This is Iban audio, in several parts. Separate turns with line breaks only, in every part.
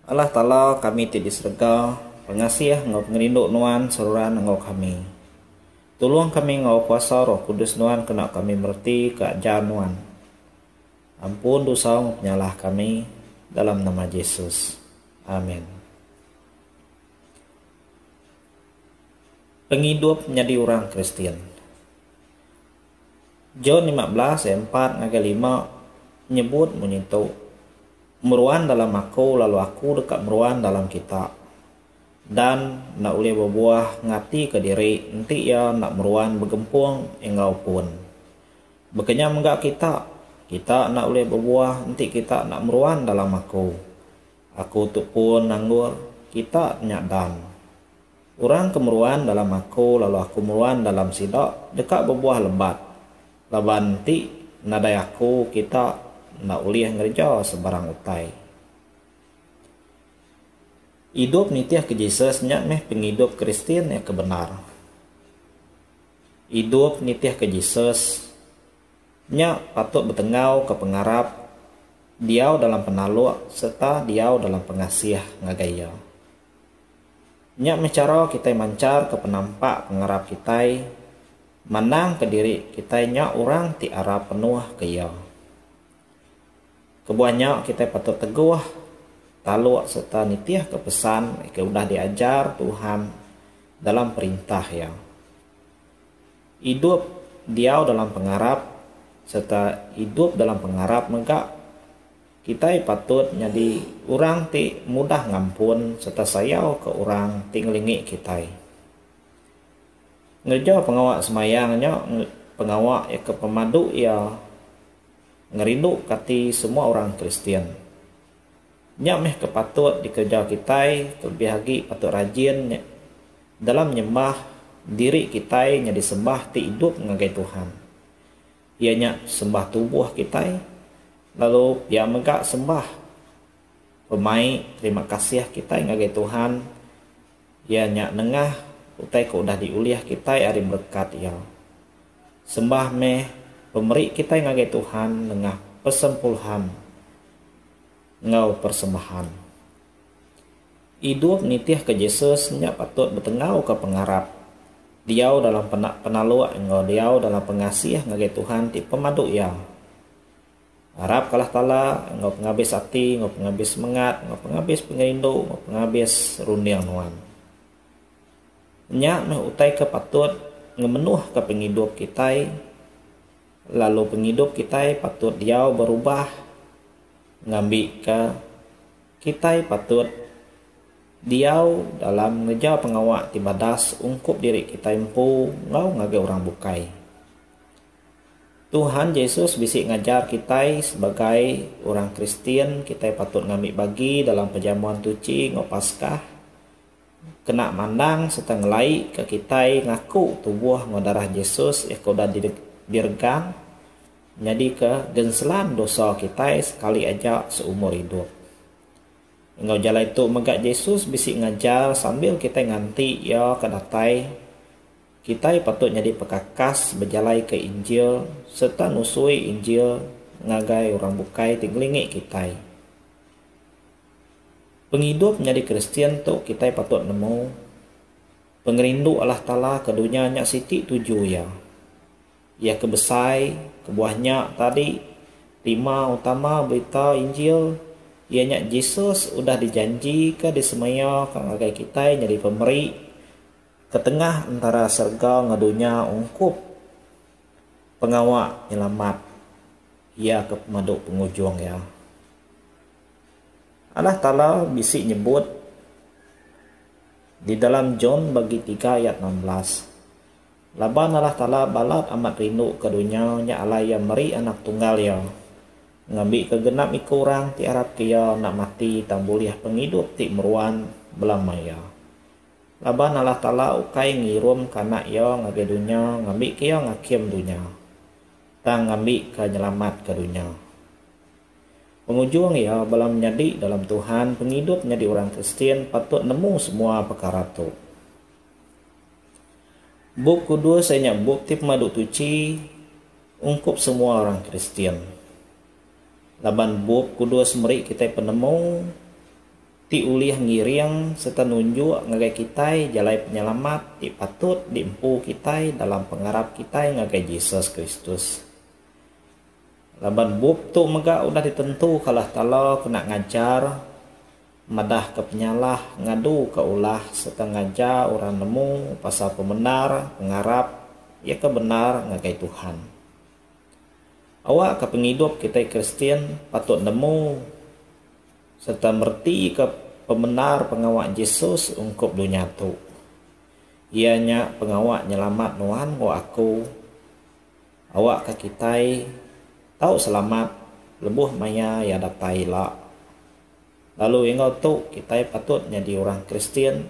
Allah Taala kami ti di serega pengasih enggau pengerindu Nuan seruran enggau kami. Tulung kami enggau kuasa Roh Kudus Nuan kena kami mereti ke ajar Nuan. Ampun dosa enggau penyalah kami dalam nama Jesus. Amen. Pengidup nyadi orang Kristian. John lima belas ayat empat ngagai lima nyebut munyi tu, Meruan dalam Aku lalu Aku deka meruan dalam kita. Dan enda ulih bebuah ngatika diri enti iya enda meruan begempung enggau pun. Baka nya mega kita, kita enda ulih bebuah enti kita enda meruan dalam Aku. Aku tu pun anggur, kita nya dan. Orang ke meruan dalam Aku lalu Aku meruan dalam sida deka bebuah lebat. Laban enti nadai Aku kita enda ulih ngereja sebarang utai. Idup nitihka Jesus nya meh pengidup Kristian ke bendar. Idup nitihka Jesus nya patut betenggauka pengarap diau dalam penaluk sereta diau dalam pengasih ngagai Iya. Nya meh chara kitai mancharka penampak pengarap kitai mandangka diri kitai nya orang ti arap penuh ke Iya. Kebuah nya kitai patut teguh taluk sereta nitihka pesan ke udah diajar Tuhan dalam Perintah Iya. Idup diau dalam pengarap sereta idup dalam pengarap mega Kitai patut nyadi orang ti mudah ngampun sereta sayauka orang ti ngelingi kitai. Ngereja pengawa semayang nya pengawa ke pemadu iya ngerinduka ati semua orang Kristian. Nya meh ke patut dikereja kitai, kelebih agi patut rajin dalam nyembah diri kitai nyadi sembah ti idup ngagai Tuhan. Iya nya sembah tubuh kitai, lalu pia mega sembah pemai terima kasih kitai ngagai Tuhan iya nya nengah utai ke udah diulih kitai ari berekat Iya. Sembah meh pemeri kitai ngagai Tuhan nengah persempulhan enggau persembahan. Idup nitihka Jesus nya patut betenggauka pengarap. Diau dalam pena penaluk enggau diau dalam pengasih ngagai Tuhan ti pemadu iya. Ngarapka Allah Taala enggau pengabis ati, enggau pengabis semengat, enggau pengabis pengerindu, enggau pengabis runding nuan. Nya meh utai ke patut ngemenuhka pengidup kitai lalu pengidup kitai patut diau berubah ngambika. Kitai patut diau dalam ngereja pengawa ti madas ungkup diri kitai empu enggau ngagai orang bukai. Tuhan Jesus bisi ngajar kitai sebagai orang Kristian kitai patut ngambi bagi dalam Pejamuan Tuchi enggau Paskah kena mandang sereta ngelaika kitai ngaku tubuh enggau darah Jesus iya ke udah diregang Nyadika genselan dosa kitai sekali aja seumur idup. Enggau jalai tu mega Jesus bisi ngajar sambil kitai nganti Iya ke datai, kitai patut nyadi pekakas bejalaika Injil sereta nusui Injil ngagai orang bukai ti ngelingi kitai. Pengidup nyadi Kristian tu kitai patut nemu pengerindu Allah Taala ke dunya nya siti tuju iya. Iya ke besai kebuah nya tadi, tema utama berita Injil iya nya Jesus udah dijanjika disemaiaka ngagai kitai nyadi pemeri ke tengah entara serega enggau dunya ungkup pengawa Penyelamat iya ke pemadu pengujung iya. Allah Taala bisi nyebut di dalam John bagi tiga ayat enam belas. Laban Allah Taala balat amat rindu ke dunya nya alai Iya meri Anak Tunggal Iya, ngambi ke genap iku orang ti arap ke Iya enda mati tang bulih pengidup ti meruan belama Iya. Laban Allah Taala ukai ngirum ke Anak Iya ngagai dunya ngambi ke Iya ngakim dunya, tang ngambi ke nyelamat ke dunya. Pengujung iya bala menyadi dalam Tuhan pengidup nyadi orang Kristian patut nemu semua pekara tu. Bup Kudus iya nya bup ti pemadu tuchi ungkup semua orang Kristian. Laban Bup Kudus meri kitai penemu ti ulih ngiring sereta nunjuk ngagai kitai jalai penyelamat ti patut diempu kitai dalam pengarap kitai ngagai Jesus Kristus. Laban bup tu mega udah ditentuka Allah Taala kena ngajar. Madahka penyalah ngaduka ulah sereta ngajar orang nemu pasal pemendar pengarap iya ke bendar ngagai Tuhan. Awakka pengidup kitai Kristian patut nemu sereta meretika pemendar pengawa Jesus ungkup dunya tu, iya nya pengawa nyelamat nuan enggau aku. Awakka kitai tau selamat lebuh maya Iya datai ila. Lalu enggau tu kitai patut nyadi orang Kristian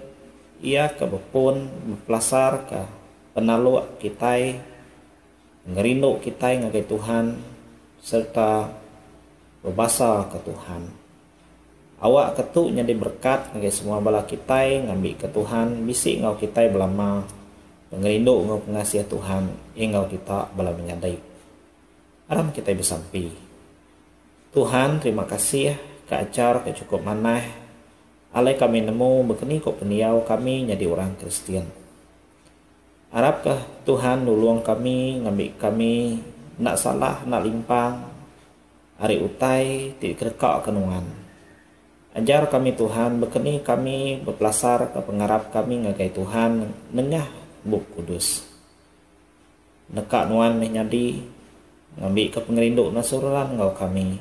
iya ke bepun bepelasarka penaluk kitai ngerindu kitai ngagai Tuhan sereta bebasaka Tuhan. Awakka tu nyadi berekat ngagai semua bala kitai ngambika Tuhan bisi enggau kitai belama pengerindu enggau pengasih Tuhan enggau kita bala menyadi. Aram kitai besampi. Tuhan terima kasih ke ajar ke cukup manah alai kami nemu begeni ko pendiau kami nyadi orang Kristian. Arap ke Tuhan nulong kami ngambi kami enda salah enda limpang ari utai ti dikereka ke nuan. Ajar kami Tuhan begeni kami bepelasar ke pengarap kami ngagai Tuhan nengah Bup Kudus. Neka nuan meh nyadi ngambika pengerindu ngasuh orang enggau kami.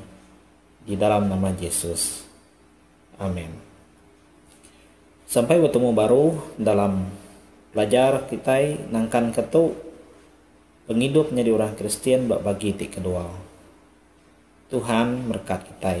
Di dalam nama Jesus. Amen. Sampai betemu baru dalam pelajar kitai nangkanka tu pengidup nyadi orang Kristian ba bagi ti kedua. Tuhan merekat kitai.